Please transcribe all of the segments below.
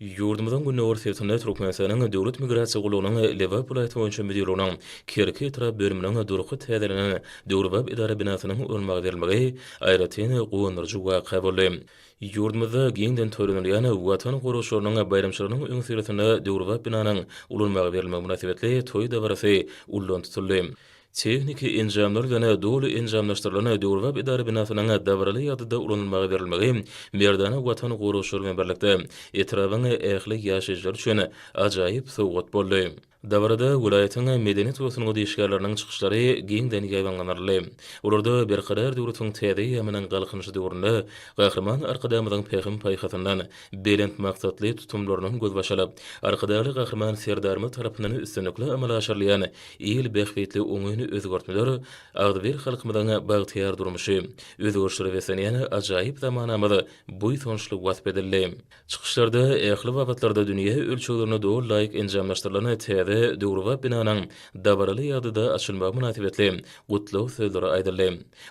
Ýurdumyzyň gündogarsüýesinde Türkmenistanyň Döwlet migrasiýa gullugynyň Lebap welaýaty boýunça müdirliginiň Kerki etrap bölüminiň durky täzelenen döwrebap edara binasynyň ulanmaga berilmegi aýratyn guwandyryjy waka boldy. Ýurdumyzda giňden toýlanylýan Watan goragçylarynyň baýramçylygynyň öňüsyrasynda döwrebap binanyň ulanmaga berilmegi mynasybetli toý dabarasy ullan tutuldy. tehniki enjamlar bilen doly enjamlaşdyrylan döwrebap edara binasynyň dabaraly ýagdaýda ulanylmaga berilmegi merdana Watan goraýjylar bilen birlikde etrabyň ähli ýaşaýjylary üçin ajaýyp sowgat boldy. Dabarada welaýatyň medeniýet we sungat işgärleriniň çykyşlary giňden ýaýbaňlanyldy. Olarda Berkarar döwletiň täze eýýamynyň Galkynyşy döwründe Gahryman Arkadagymyzyň pähim-paýhasyndan, belent maksatly tutumlarynyň gözbaşylyp, Arkadagly Gahryman Serdarymyz tarapyndan üstünlikli amala aşyrylýan il bähbitli oňyn özgertmeler agzybir halkymyzyň bagtyýar durmuşy, özgerişlere beslenýän ajaýyp zamanamyz buýsançly wasp edildi. Çykyşlarda ähli babatlarda dünýä ölçeglerine doly laýyk enjamlaşdyrylan täze döwrebap binanyň dabaraly ýagdaýda açylmagy mynasybetli gutlag sözleri aýdyldy.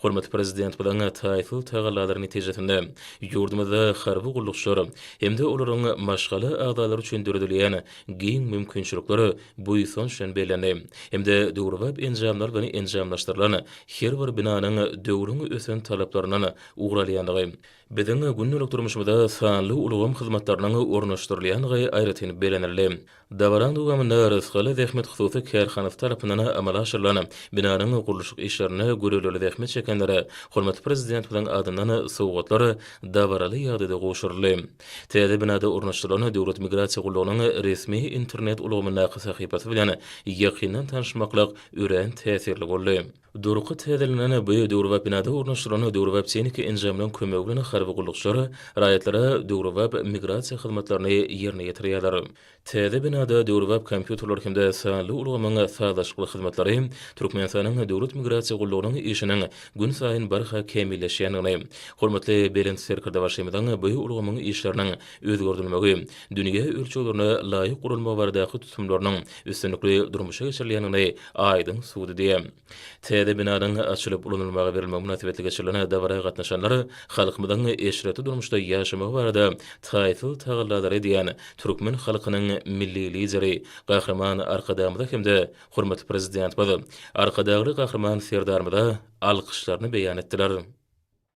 Hormatly Prezidentimiziň taýsyz tagallalary netijesinde, ýurdumyzda harby gullukçylar hem-de olaryň maşgala agzalary üçin döredilýän giň mümkinçilikler buýsanç bilen bellendi hem-de döwrebap enjamlar bilen enjamlaşdyrylan her bir binanyň döwrüň ösen talaplaryndan ugur alýandygy, biziň gündelik durmuşymyza sanly ulgam hyzmatlarynyň ornaşdyrylýandygy aýratyn bellenildi. Dabaraň dowamynda Rysgaly zähmet hususy kärhanasy tarapyndan amala aşyrylan binanyň gurluşyk işlerinde göreldeli zähmet çekenlere hormatly Prezidentimiziň adyndan sowgatlar dabaraly ýagdaýda gowşuryldy. Täze binada ornaşdyrylan Döwlet migrasiýa gullugynyň resmi internet ulgamyndaky sahypasy bilen ýakyndan tanyşmaklyk örän täsirli boldy. Durky täzelenen bu döwrebap binada ornaşdyrylan döwrebap tehniki enjamlaryň kömegi bilen harby gullukçylar raýatlara döwrebap migrasiýa hyzmatlaryny ýerine ýetirýärler. Täze binada döwrebap kompýuterler hem-de sanly ulgamyň sazlaşykly hyzmatlary Türkmenistanyň Döwlet migrasiýa gullugynyň işiniň günsaýyn barha kämilleşýändigini, hormatly Belent Serkerdebaşymyzyň bu ulgamyň işleriniň özgerdilmegi, dünýä ölçeglerine laýyk guralmagy baradaky tutumlarynyň üstünlikli durmuşa geçirilýändigini aýdyň subutdy. Täze binanyň açylyp ulanylmaga berilmegi mynasybetli geçirilen dabara gatnaşanlar halkymyzyň eşretli durmuşda ýaşamagy barada taýsyz tagallalary edýän türkmen halkynyň Milli Lideri Gahryman Arkadagymyza hem-de hormatly Prezidentimiz Arkadagly Gahryman Serdarymyza alkyşlaryny beýan etdiler.